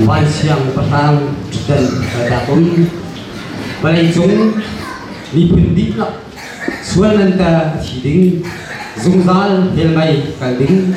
Vansiang patang ṭhen dak um vawleicung miphun dihlak sual nan ta thi ding zungzal hell mei kal ding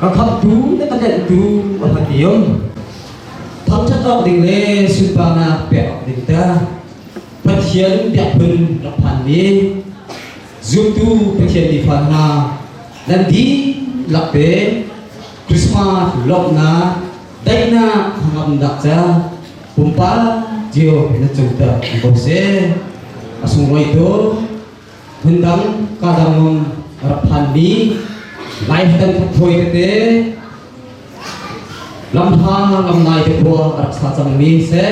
Ka khamtu le ka denhtu a rak i um. Thangṭhat awk ding le sunparnak pek awk ding te Pathian biakphun rak phanmi zumtu Pathian nifa hna nan dihlak pe Christmas lawmhnak daihnak hangamnak ca pumpak cio in cung tak an bo se a sunglawi tu phundang kadang nung rak phanmi lai dan phawi tete lamhang lam nai te khua rak sa cangmi se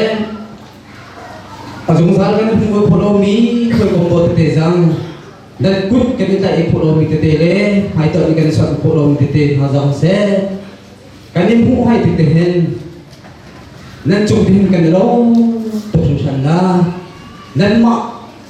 azungzal kan phungol pholo mi khoi kombo tete zang dan kut kan ta e pholo mi tete le hai to kan san pholo mi tete ha zang se kan in phu hai tete hen nan chung din kan lo to shan na nan ma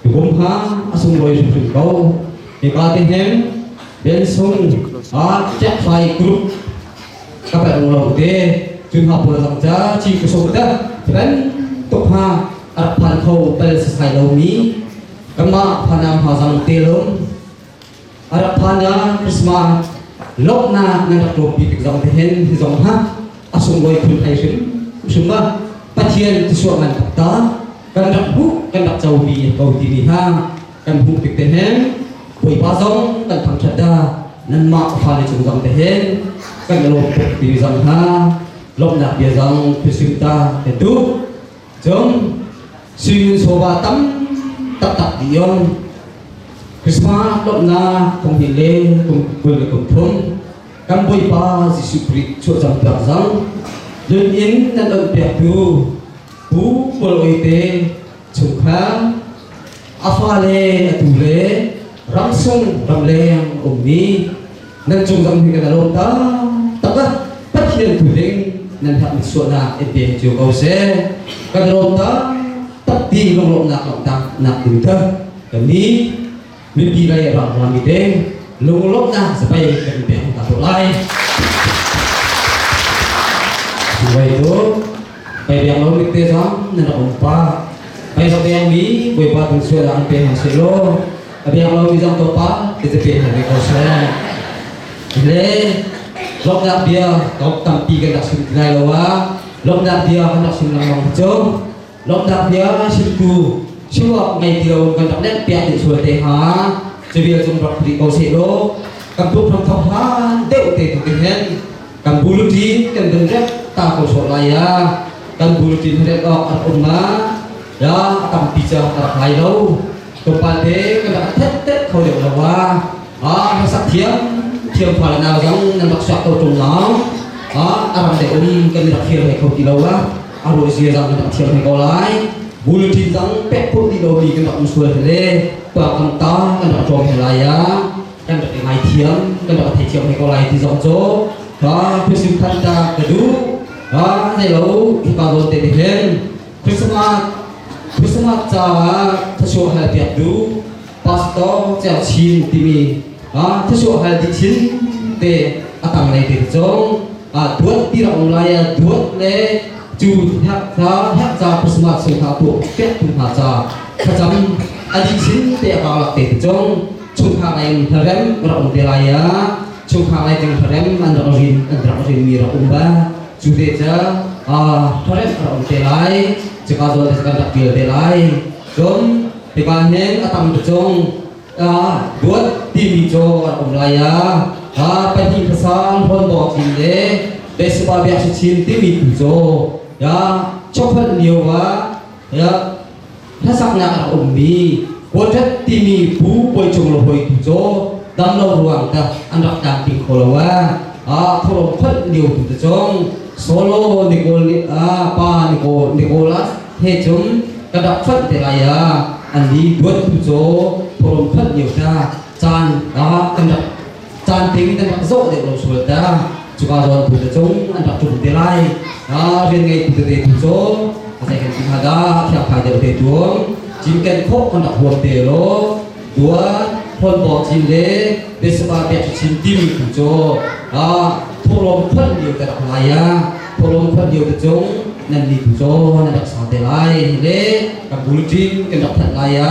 ka kumhang a sunglawi hrimhrim ko. Hika te hnem Bensung a Jack Fai Group ka pel lo te cun ha pul lang ca ci ka sung ta ban tuk ha ar phan kho pel sa sai lo mi kanmah phanam ha zang te lom A rak phan ah Christmas lawmhnak nan rak rawpi tik zong te hin hi zong ha a sunglawi phun thai hrim hrim ba Pathian tisuak ngan tak ta kan rak hmuh kan rak comi ko ti ni ha kan hmuh tik te hen Bawipa zong kan thangthat da nan mah fa le cung zong te hen kan lawm tuk ti zong ha lawmhnak bia zong thilsim ta te tu Cun suimin sawva tam taktak i on Christmas lawmhnak kum hnih le kum kul le kum thum kan Bawipa Jesuh Khrih chuahcam piak cang nun in nan onh piaktu Pu Kawlawite chungkhar a fale atu le ramsung ramleng a ummi nan cung zong hi kan alawm ta taka pathian tu ding nan hak mit suahnak in te cu ko se kan lawm ta tak ti lunglawmnak lawm ta nak tu ta kan ni mipi lei rang rang mi ding lunglawmnak zabai kan pe hong ta to lai Wait, oh. Kai biang lo bik te zang na la um pa. Kai so biang mi boipa tu sual an pe hang se lo. A biang lo mi zang to pa te te pe hang ve ko se. Le lok dak bia kau tam pi kan dak sim lai lo wa. Lok dak bia kan dak sim lang long chong. Lok dak bia sim ku siwak ngai ti lo kan dak nek pia ti sual te ha. Cebia cung rak ri ko se lo. Kan puk thong thong han deu te tu tin hen. Kan bulletin kan vun remh ta ko sawh lai ya. Kan bulletin remh awk an um na, ya a tampi cu a rak lai lo. Tlawmpate kan rak thet kho deuh lo wa. Ah, rak thiam, thiam fa le nau zang nan rak suak ko tung lao. Ah, aram de um kan rak thiam he kho ti lo wa. Aro zia zang kan rak thiam he ko lai. Bulletin dang pek pun di lo mi kan rak um sual he le, pa kan ta kan rak tlawm he lai ya. kan rak i ngaithiam kan rak theithiam hoi ko lai ti zong cu ka phisim than ta ka duh ka nei lo hipa zawn te nih hin Christmas Christmas caah thasuah hal piak du pastor cel chin timi a thasuah hal ti chin te akang nei te cu a duat ti ra um lai a duat le cu hek ca hek ca Christmas sun ha tu pek tu hna ca khacam adi chin te akang lak te tu cung chungkhar lei in hlarem ka rak um te lai ah chungkhar lei ding hlarem an rak rin an rak rinmi rak um ba cu te ca hlarem rak um te lai cika zawn te kan rak pil te lai cun hika hnen a tam tu cung buat timi co an um lai ah a pahnih pasang hon dawng chin le besupa biak si chin timi tu co ya chokhat nio wa ya hlasaknak a ummi Budget timi bu puai cung lo hoi tu cu dam lo ruang ta an rak tan pi kho lo a a thorong phal lio tu te chong solo Nicole pa Nicole Nicola he chung ka dak phal te lai a an li duat tu cho thorong phal lio ta caan ah an rak caan peng in an rak zawh deuh lo sual ta cuka zawn tu te cung an rak tlung te lai a rian ngei tu tete tu cu a zei kan ti hnga dah thiak phai deuh te tuam cim ken khawh an rak huam te lo duat phon bor cin le besapa pek chin timi tu cu a thawlawm phon lio te rak lai ya thawlawm phon lio te cung nan ni tu cu nan rak sa te lai le kan bul cin kan rak that lai ya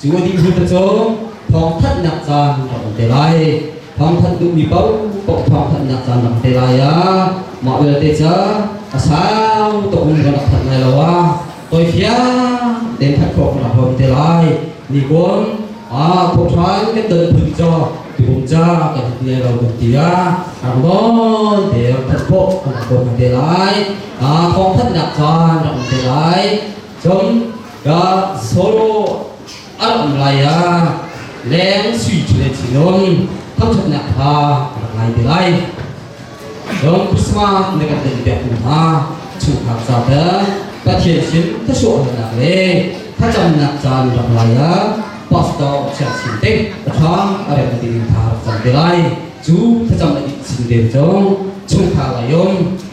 Cu a dih hmun te cu thawngthanhnak caan rak um te lai. Thawngthanh duhmi paoh paoh thawngthanhnak caan rak um te lai ah mah vialte cu a sang tuk in rak thanh lai lo ah toifiang den that khawh khona hom te lai ni kuan a thawhran kan don phun cho tukum ca kan hit lai lo kan ti ah ang bon te rak thanh khawh khona hom te lai a thawngthanhnak caan rak um te lai Cun ka solo a ram lai ah leng sui thule thinun thangṭhatnak kha rak ngai te lai. Cun Christmas na kan in pektu hna chungkhar ca te Pathian sin thluachuahnak le thlacamnak caan rak lai ah pastor chia chin te paṭha a rem ding kha rak cam te lai. Cu thlacam le in sin te cu chungkhar lei um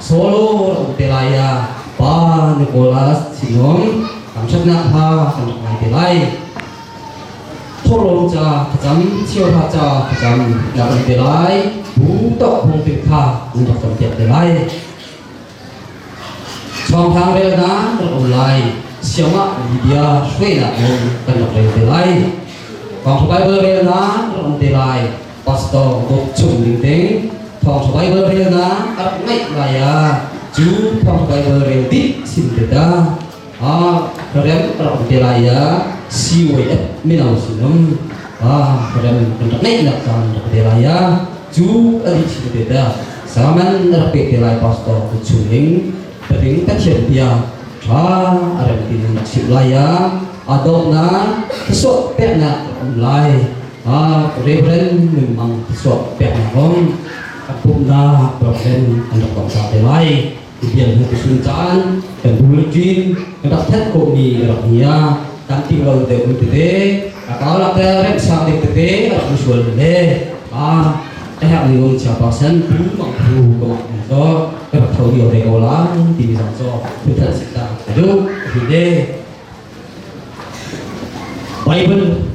solo an pe lai ah pa Nicolas Sinong kan ṭhatnak ha kan rak ngai te lai thawlawng ca ka cam chiawhra ca ka cam rak an pe lai bu tok hong ping tha nan rak cam piak te lai chawngthang rel na kan um lai siamah libya hruainak nawn kan rak rel te lai kong bible rel na kan um te lai Pastor Bob chung ning ding Thawngṭha Baibal relnak a rak ngeih lai ah cu Thawngṭha Baibal rel dih sin te ta a rem a rak um te lai ah CYF mino sinum a rem kan rak ngeih nak caan rak te lai ah cu a dih sin te ta saman a rak pe te lai pastor ku chung ning Tading Pathian bia tha a rem tin chim lai ah a dawtnak thasuak peknak um lai Reverend nunmang thluachuak peknak kong kan pumhnak program an rak tuah te lai. Bial hnu tisun caan kan dul cin kan rak that ko mi kan rak hnia kan ting lo de ul tete a kau la tel rem sang dik tete a rak sual le a ehak ni lon cha percent pu mang pu ko an so ka rak tho dio ve ko la ti mi zong so tu than sit ta du hi de Baibal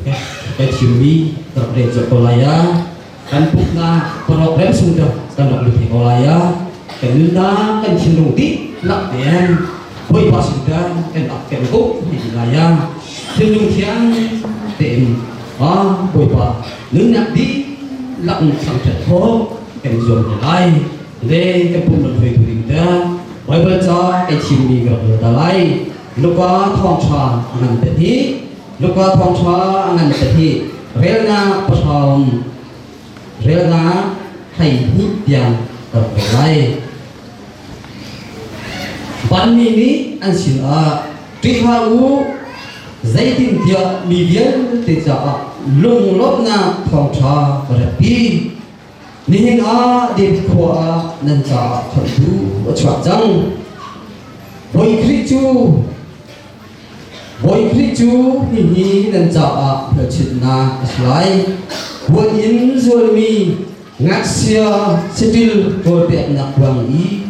ka thimmi ka rak rel colh ko lai ah kan pumhnak parok rem sung cu kan rak lut ko lai ah kan nunnak kan thinlung dihlak tein Bawipa sin kan kan rak kan uk ti lai ah thinlung thiang tein ah Bawipa nunnak dihlak in thangṭhat khawh kan zuam hna lai le kan pumh lam hruaitu ding te Baibal ca kan thimmi ka rak rel ta lai Luka thawngṭha a ngan te hi Luka thawngṭha a ngan te hi relnak pasawm relnak hei hnih tiang ka ve lai vanmi mi an sin ah ṭihla u zeitin tiah mi vialte caah lunglawmhnak thawngṭha ka ratpi Nihin ah David khua ah nan ca chonhtu a chuak cang. Bawi Khrih cu Bawi Khrih cu hihi nan caah hmelchunhnak a si lai. Huat in zualmi ngaksia saṭil kawlpeknak ruang i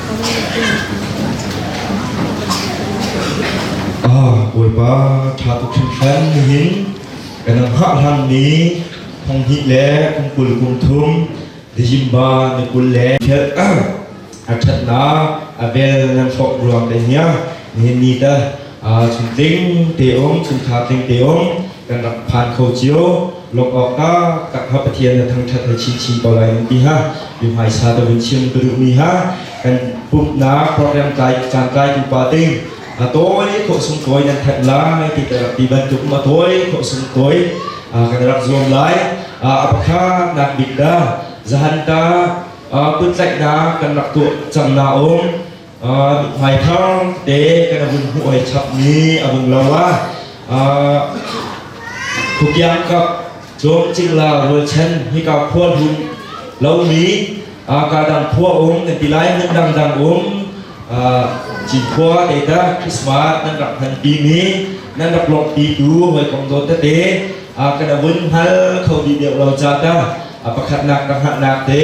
Bawipa ṭha tuk hringhran nihin kan ang hngah hlanmi hnanghnih le kum kul kum thum Dizimba ni kul le ṭhet a ṭhatnak a vel nan hrawk ruang le nia nihin ni ta chun tling te um chun tha tling te um kan rak phan kho cio lawmh awkah tak hna Pathian na thangṭhat na chim chin ko lai nan ti hna. I hmaisa ka vun chim ka duhmi hna kan pumhnak program tlai caan tlaitu pa ding a tawi khawhsung tawi nan thanh lai ti ka rak ti bantuk a tawi khawhsung tawi kan rak zuam lai a pakhat nak bik da zahan ta kuttlaihnak kan rak tuah cang na um Vai thar te kan vun hmuh oi chapmi a vung lo a kukiang kap dom cingla rualchan hika khual hum lomi kadang khua um nan ti lai hmun dangdang um cin khua te ta Christmas nan rak han pi mi nan rak lok pi tu hoi kong do ta te kana vun hal kho bi deuh lo cha ta a pakhat nak ka ha nak te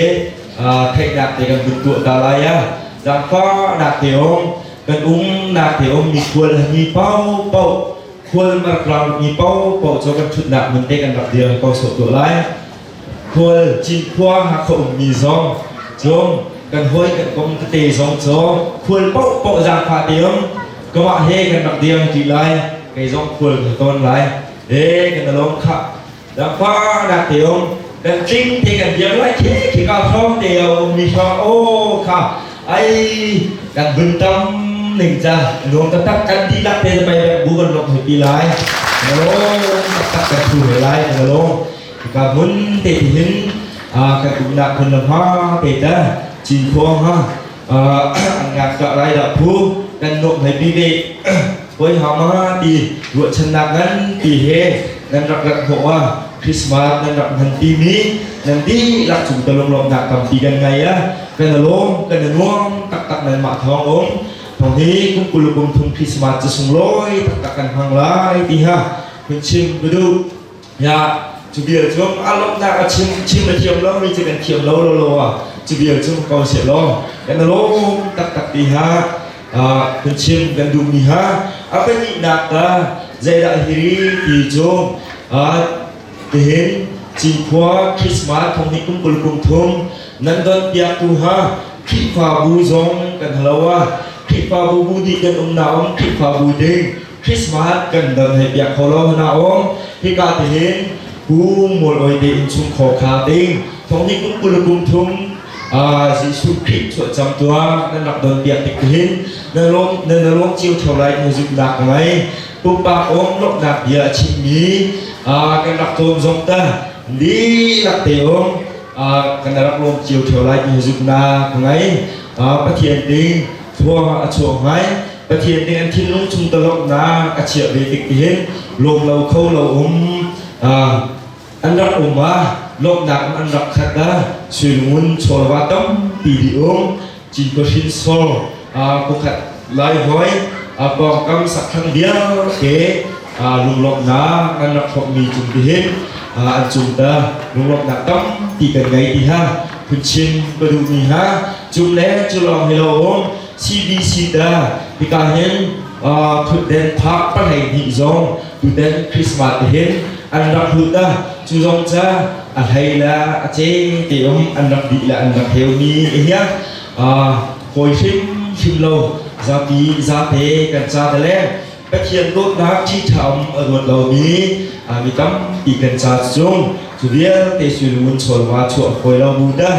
theihnak te kan vun tuah ta lai ya zaangfahnak te um kan umnak te um mi khual mi pau pau khual marklang mi pau pau cho kan thutnak mun te kan rak dir ko so to lai khual cin khua ha kho um mi zong chung kan hoi kan kong te zong cho khual pau pau zaangfa te um kawah he kan rak dir ti lai kei zong khual kan ton lai e kan along kha Dangpa nak te um dan tling te kan diam lai khi khi ka som te um mi sang o kha ai kan bun tam ning ja nuam tak tak kan di lak te mai ba bu ban lok hai pi lai no tak tak kan thu he lai kan lo ka mun te ti hin a kan kum nak kun la ma te ta chin khuang ha an ngak ka lai dah phu kan nuamh hlei pi le voi ha ma ti ruahchannak ngan ti he nan rak rak hmuh a Christmas nan rak nan ti mi nan di lak chung ta lom lom nak tam pi kan ngai a kan alom kan anuam tak tak nan ma thawng om thong hi kum kulukum thung Christmas cha sung loi tak tak kan hmang lai ti ha hun chim dudu Ya, cu bia cu a lawmhnak a chim chim a thiam lo mi cu kan thiam lo lo lo ah cu bia cu ko se law kan lawm taktak ti ha kan chim kan duh mi ha a pahnih nak ta zeidah hiri ti cu tihin cinkhua Christmas thong hi kum kul kum thum nan don piak tu ha Khrihfabu zong kan halo a Khrihfabu bu nih kan um na um Khrihfabu ding Christmas kan dal hei piah kho lo hmanh ah um hika ti hin kum mul oi te in chung kho kha ding thong hi kum kul kum thum Jesuh Khrih chuah cam tuah nan rak don piak tik tihin na lawm na lawm cio theo lai music dak ngai pumpak om lomhnak bia a chimmi kan rak cawn zong ta li lak te om kan rak lawm cio theo lai music nak ngai Pathian ding thua a chuak ngai Pathian nih an thinlung chung dolawmhnak a chiah ve tik hin lawm lo kho lo um an rak um ah lawmhnak an rak khat ah suilungun chawlwa tampi di um cinko hrinsor kukhat lai hoi pawngkam sakthang vialte lunglawmhnak an rak hrawkmi cung tihin an cung ta lunglawmhnak tampi kan ngei ti ha phun chim ka duhmi ha cum le culawng hi lo um CBC dah hika hin thutden tha palei dih zong tuten Christmas te hin an rak hlut da cu zong ca a hlei la a cheng te om an rak di la an rak heu mi hiya hoi hrim hrim lo zapi zate kan cha da le Pathian dawtnak thi tha om a ruat lo mi mi tam ti kan cha cu cu vialte sulun cholwa chuah khoi lo bu da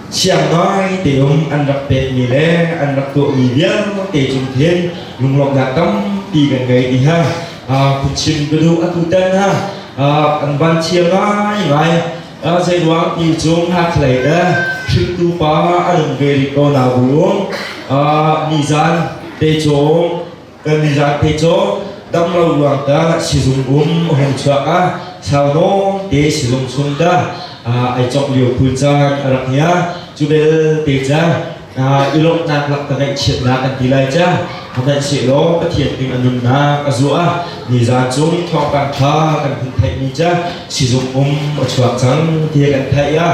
Siangngai teum an rak petmi le an rak tuahmi vialte cung hin lunglawmhnak tampi kan ngei ti ha phunchim ka duh atu tan ha an van thiam ngai ngai zeiruang ti cu ngakhlei le hringtu pa an um ve rih ko na bu nizan te cung kan lila te cu dam lo ruang ka sizung um hong chuak a sau dawng te sizung sum da ai chok lio pul caan a rak nia cu bel te ca i lawmhnak lak ka ngaih chiat na kan ti lai ca a ngaih che law pathian ding a nunnak a zu a ni zan chung thawngpang kha kan hun theih mi ca sizung um a chuak cang ti kan theih a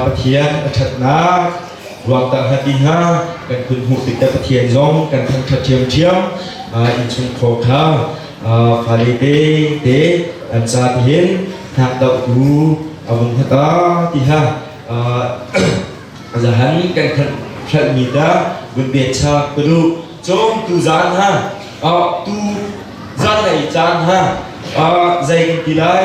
pathian a thatnak ruakta hna ti hna kan kun hmuh tikah Pathian zong kan thangṭhat ṭhiamṭhiam innchung khor kha fale te te an ca tihin thak doh tu a vung hata ti ha zahan kan khan hlalmi ta vun bet chak padu cawm tu zan ha tu zan ai caan ha zei ti lai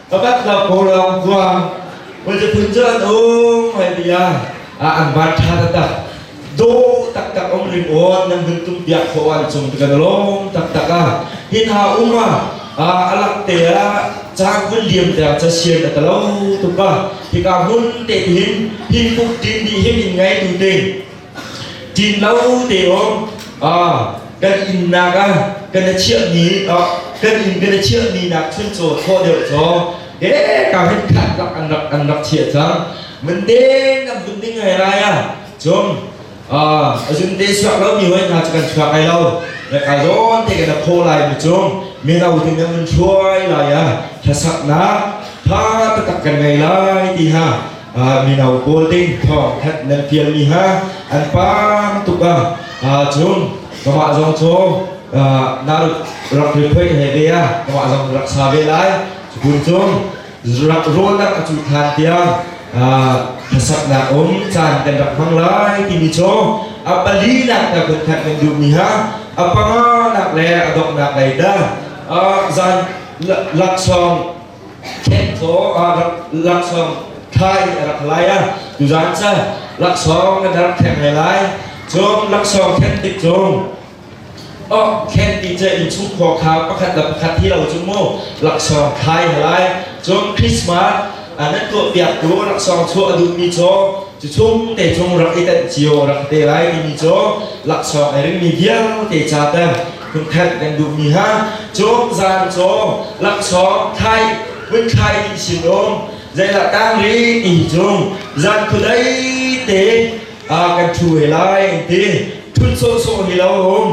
Pakhat lo ko lawng kuang. Wajapun cu an um hai bia. Ah an van tha taktak. Do taktak om rim on nan hun tum biak khawh an cung tu kan lom taktak a. Hin ha uma a alak te a chang hun liam te a cha sian ta lo tu pa. Tika hun te tin hin puk din di hin in ngai tu te. Ṭin lo te um kan innak ah kan i chiahmi kan inn kan i chiahmi nak chun caw thlaw deuh caw de ka hin khat lak an rak an rak chiah cang mun deng nam mun ding ai rai a cum a zun te suak lo mi hoi hna chu kan chuak ai lo na ka zawn te kan pho lai mu cum mino te na mun chuai lai a thlasak na tha tatak kan ngai lai ti ha mino pawl ding thawngthanh nan fialmi hna an pang tuk ah cun kamah zong cu narut rak rephoih he ve a kamah zong rak sa ve lai cun cun rak rawlnak a cu than tiang hlasaknak um caan kan rak hmang lai timi cu a pali nak ta kut khat kan duhmi ha a panganak le a doknak lei da zan laksawng Thencaw ah laksawng thai a rak lai a tuzan ca laksawng na dar theng lai lai cun laksawng then tik cung oh khen ti ce in chung khua kha pakhat le pakhat hi lo cu mu laksawng thai lai cun Christmas anan ko piak tu laksawng chu a duh mi cho cu chung te chung rak i tan cio rak te lai mi mi cho laksawng ai ring mi vial te cha ta Kutthenh kan duhmi ha cawm zan caw laksawng thai hmunkhai dih sin um zeilah tang ri ti cung zan khudai te kan thu he lai an ti thun sawhsawh hi lo um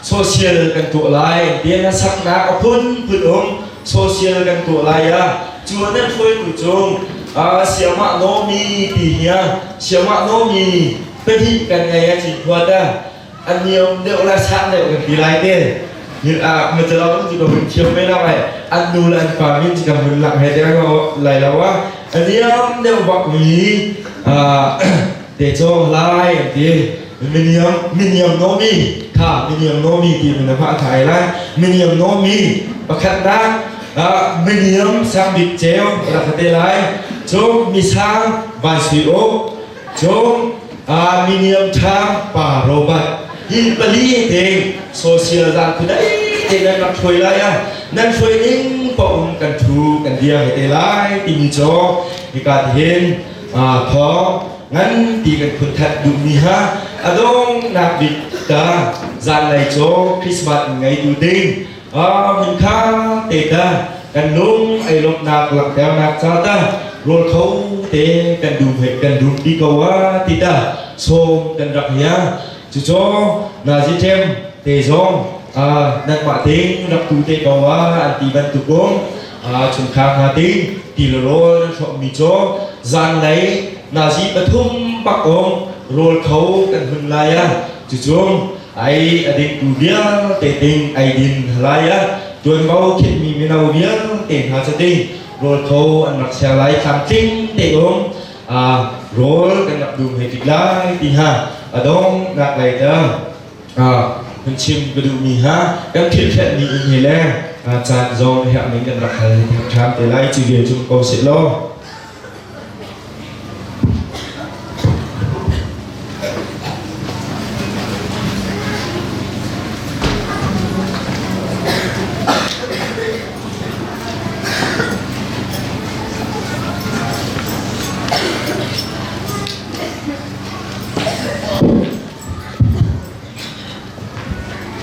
social kan tuah lai an ti na saknak a phunphun um social kan tuah lai ya cuan na thuai tu cung siama nomi ti hiya siama nomi padi kan ngei a chin khua ta Aniam deuh la sa deuh kan pi lai te. Matalang ti ko hun thiam me la mai. An nu le an pa min ti kan hun lang he deng lo lai lo wa. Aniam deuh bak mi te cho lai an ti. Miniam miniam nomi kha miniam nomi ti min ma thai lai. Miniam nomi pakhat nak miniam sang bik cheu la te lai. Chuk misang van sui o Cung a miniam ṭhang pa Robert hin pali ding social dang khu dai te nan rak hruai lai a nan hruai ning pa um kan thu kan bia he te lai timi cho hika ti hin tho ngan ti kan khun that duh mi ha adong nak bik ta zan lai cho Christmas ngei tu ding va min kha te ta kan lung ei lomhnak langhternak ca ta rawl kho te kan duh he kan dum di ko wa ti ta som kan rak hia cuco na ji ṭem te zong nanmah ding rak tu te ko wa an ti bantukum chungkhar hna ding ti le rawl nan hrawm mi co zan lei nazi pathum pak ong rawl kho kan hun lai a cucum ai a dingtu vialte ding ai din lai a tuanvo khinhmi mino vialte hna cu ding rawl tho an rak ser lai tlamtling te um a rawl kan rak dum hei tik lai ti ha a dong nak lai ta hun chim ka duhmi ha kan thilfet ni in he le caan zong herh ning kan rak hal thang ṭham te lai chi vial cum ko sit lo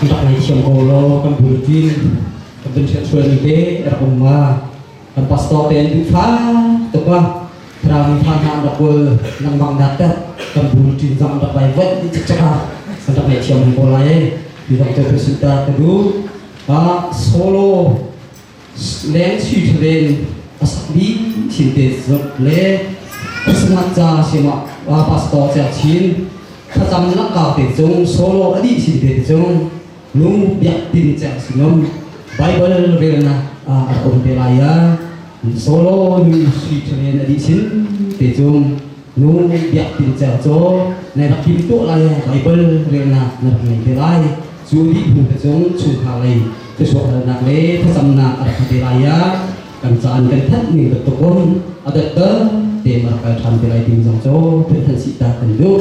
Kan thang ngei thiam ko lo kan building kan benfiah chuan ni te a rak um ma. kan pastor te an duh fa tuk a rami fa hna an rak bual lengmang natter kan bul ṭin zam rak vai vaih ni cak cak a kan rak ngei thiam ko lai e ti zong te ka sunta ka du a solo leng si tharen a sakbi thin te zot le sangat ca sima pastor cha chin thlacam na kau te cung solo adi thin te cung nu biak ti ding cang si lo Bible relnak ah a um te lai ya solo nu sui chelen a dih sin te cung nu biak ti ding cang cho nai bak kim to lai Bible relnak na bak ngei te lai cu di phu te cung chungkhar lei te suahalnak le thasamnak a bak te lai ya kan caan kan thanh ning betuk om adat te mar kal than te lai ding zong cho thil than si ta kan duh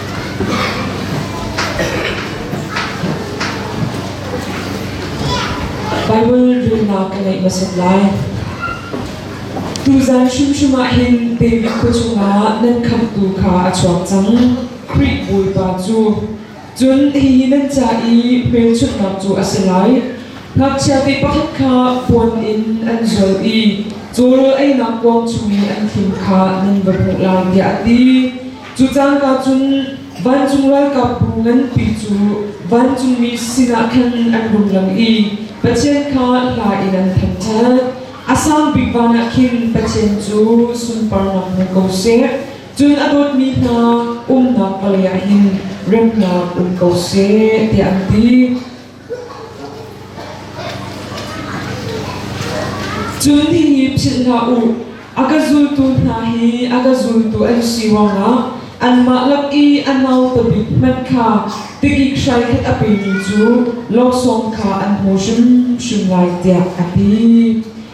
Baibal zumhnak ka ngeih hmasat lai. Tuzan hrimhrim ah hin David khuachung ah nan khamhtu kha a chuak cang, Khrih Bawipa cu. Cun hihi nan ca i hmelchunhnak cu a si lai, Ngakchia ti pakhat kha puan in an zual i cawrawl einak kuang chung i an thim kha nan va hmuh lai, tiah a ti. Cu cangka cun vancung ralkapbu nganpi cu vancungmi sinah khan an rung lang i Pathian kha hla in an thangṭhat. A sang bik van ah khin Pathian cu sunparnak hmu ko seh, cun a dawtmi hna umnak vawlei ah hin remnak um ko seh, tiah an ti. Cun hihi philh hlah u, a ka zultu hna hi a ka zultu an si ruangah anmah lak i a nauta bik hmanh kha tikik hraikhat a pemi cu laksawng kha an hmu hrimhrim lai, tiah a ti.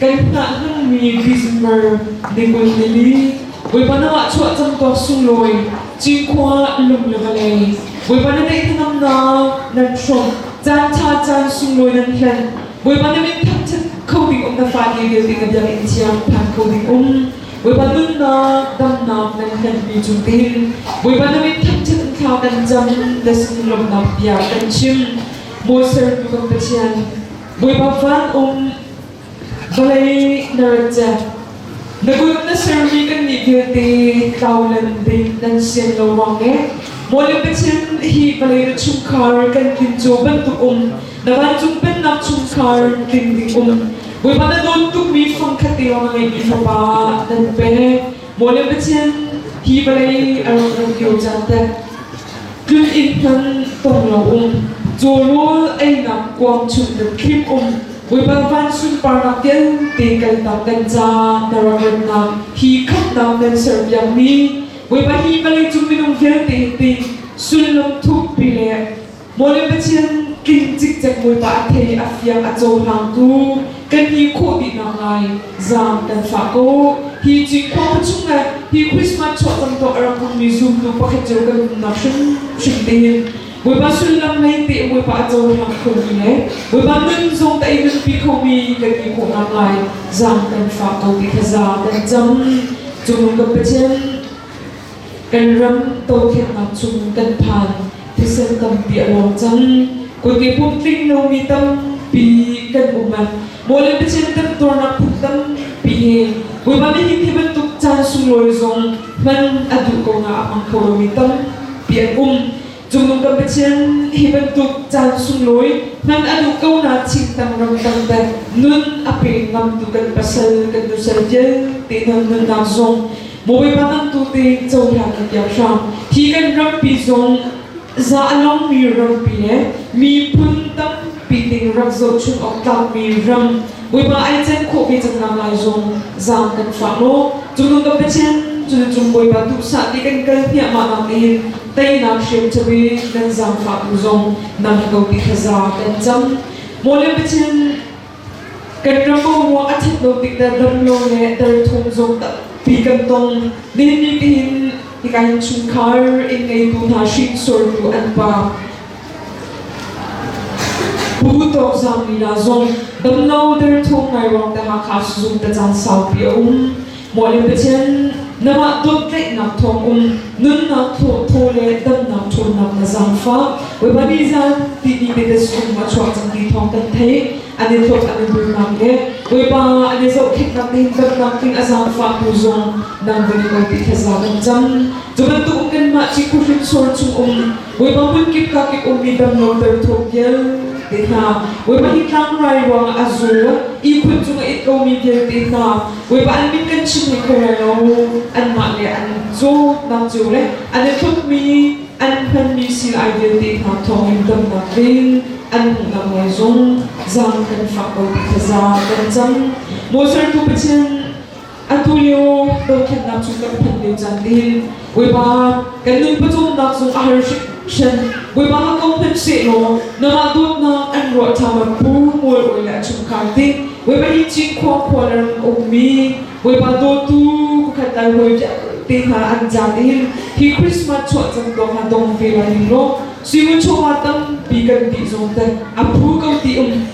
Kai hnah hmanmi December ni kul nili, Bawipa na wah chuah cang ko sunglawi, Cinkhua lung le vawlei. Bawipa na neih thanamnak nan hrawmh, Caan ṭha caan sunglawi nan hlen. Bawipa na min thangṭhat kho ding um, Na fate vialte na biakinn thiang phan kho ding um. Bawipa nunnak, damnak nan hlenpi cungin, Bawipa na min thangṭhat in thla kan cam, Na sung lawmhnak bia kan chim. Maw Sertu kan Pathian, Bawipa fan um vawlei nan cek na kut na sermi kan nih vialte taulan ding nan sian lo ruang le maw le Pathian hi vawlei na chungkhar kan tlin cu bantuk um na vancung pennak chungkhar tlin ding um Bawipa na dawn tukmi fang khat tiang a ngeihmi fapa nan pe Maw le Pathian, hi vawlei a rak ran lio caan teh, tlun inn hlan pong lo um, cawrawl einak kuang chung dat thlim um, Bawipa van sunparnak vialte kaltak kan ca na rak ratnak, hi khamhnak kan serpiakmi, Bawipa hi vawlei cung minung vialte te, sullam thukpi le Maw le Pathian, tling cikcek Bawipa a thei i a fiang a cohlangtu, kan ti khawh dih naklai zaam kan fah ko. Hi Cinkhua pa chung le hi Christmas chuah cangtuah a rak hmangmi zumtu pakhat cio kan umnak hrimhrim tein Bawipa sullam lei teh Bawipa a cohlang khomi le Bawipa nun zong tei nunpi khomi kan ti khawh naklai zaam kan fah ko ti kha za kan cam. Cungul kan Pathian, Kan ram dotletnak chung kan phan thisen tam piah ruang cang koike pumtling lomi tampi kan um a mawle pacem kan tornak phun tampi he bawipa nih hi bantuk caan sunglawi zong hman a duh ko na a hmang kho lomi tampi an um Cu kan Pathian hi bantuk caan sunglawi hman a duh ko na thingtang ramtang te nun a pe ngam tu kan pasal kan nusal vialte nan nunnak zong Bawipa nan tu te cohlan kan tiang hram hi kan rampi zong za a long mi rampi le miphun tampi ding rak zoh chung awk tlak mi ram Bawipa ai chen khawh ve cang nak lai zong zam kan fa lo cung kan Pathian cu cung Bawipa duh sa ti kan kal hniah ma nak in teinak hriamcabi nan zaangfah tu zong nang ko ti thaza kan cang mawle bichin kan ram mo mo a that no tik da dam no le dal thong zong ta pi kan tong ni ni ti hin hi kan chung khar in ngei tu na hring sor tu an pa bu tok zang mi la zong dam no der thong ngai wang ta ha kha su ta chan sau pi um Bawi le Pathian, namah dawtnaihnak thawng um nunnak thaw le damnak ṭhawnnak na zangfah. Bawipa ni zan ti ni te sung ma chuak cang ti thawng kan thei. An i thawt an i bulnak le Bawipa an i zohkhenhnak te in damnak tling a zangfah tu zong nang ve ko ti thaza kan cam. Cu bantuk kanmah cikufin sual chung um Bawipa hmunkip kakip ummi damlo darthum vialte hna, Bawipa hi tlangrai ruangah a zual, ihkhun cungah it komi vialte hna, Bawipa an min kan chim hei kho lai lo, anmah le an zawtnak cio le an i tlukmi, an hmanmi sil ai vialte hna thawngin damnak ding an hmuhnak ngei zong zang kan fak ko ti thazaang kan cang. Moses tu Pathian Atulio dohkhenhnak cu kan phanh lio caan in Bawipa kan nun pawcawmnak zung a har hringhran. Bawipa ko phanh sehlaw namah dawtnak an ruah ṭhabat phu mualrawi le a chungkhar ding Bawipa hi Cinkhua khua ram ummi Bawipa dawtu pakhat lai hawi te hna an zat in hi Christmas chuah cangtuak hna tong ve lai ning law Sivu chawma tampi kan tih zong te a phu ko ti um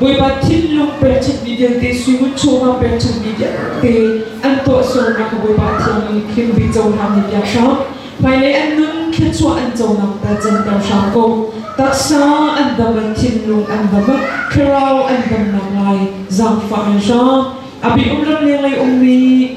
Bawipa thinlung pekchanhmi vialte suimun chungah pekchanhmi vialte an tuahsernak ka Bawipa thiangin hlimbi conak ni piak hram. Hmailei an nun thluachuah an conak ta canter hram ko. Taksa an dam in thinlung an dam in thlarau an damnak lai zaangfah in hram. A bi um lam le lei ummi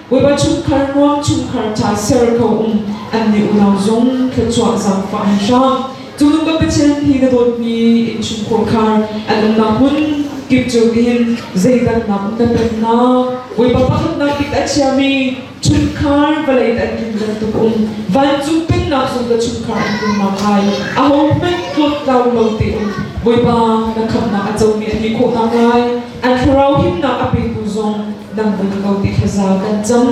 Bawipa chungkhar nuam chungkhar ṭha ser ko in an nih unau zong thluachuah zaangfah an hram. Cunu kan Pathian hi na dawtmi innchung khuakhar an umnak hmun kip cu tihin zeidak nak na pennak Bawipa pakhatnak bik a chiami chungkhar vawlei te an kim bantuk um vancung pennak zong ka chungkhar an kimnak kai a ho hmanh tlawt tlau lo te um Bawipa na khamnak a comi a ti khawhnak lai An thlarau himnak a petu zong dang bun ko ti thazaang kan cam.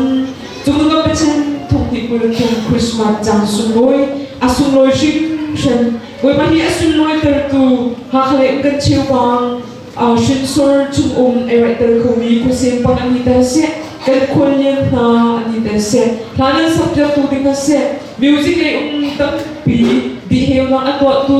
Cu tluk Pathian thukni kul khin Christmas cang sunglawi, a sunglawi hrimhrim. Bawipa hi a sunglawi tertu hakhale kan cheupang hrinsor chungum ei raih tel khomi khuasem pang an ni tel seh kan khual lian hna an ni tel seh hla nan sak tu ding seh music lei um tampi diheu na an tuahtu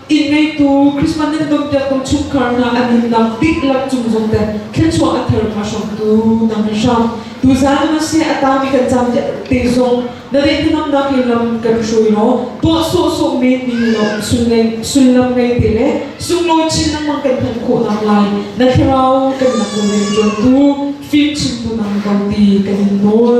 inn ngeitu Christmas nan don ter ko chungkhar hna an in nam bik lam cung zong te thilchuah a thar kha hram tu nang in hram tu zan na se a ta mi kan cham te zong na re thanam nak in lam kan hrui ro to so so me ni lo sulngai sullam ngai te le sunglo chin nang mang kan than kho nam lai na thlirau kan nang lo ren jon tu fim chin tu nang ko ti kan in nawl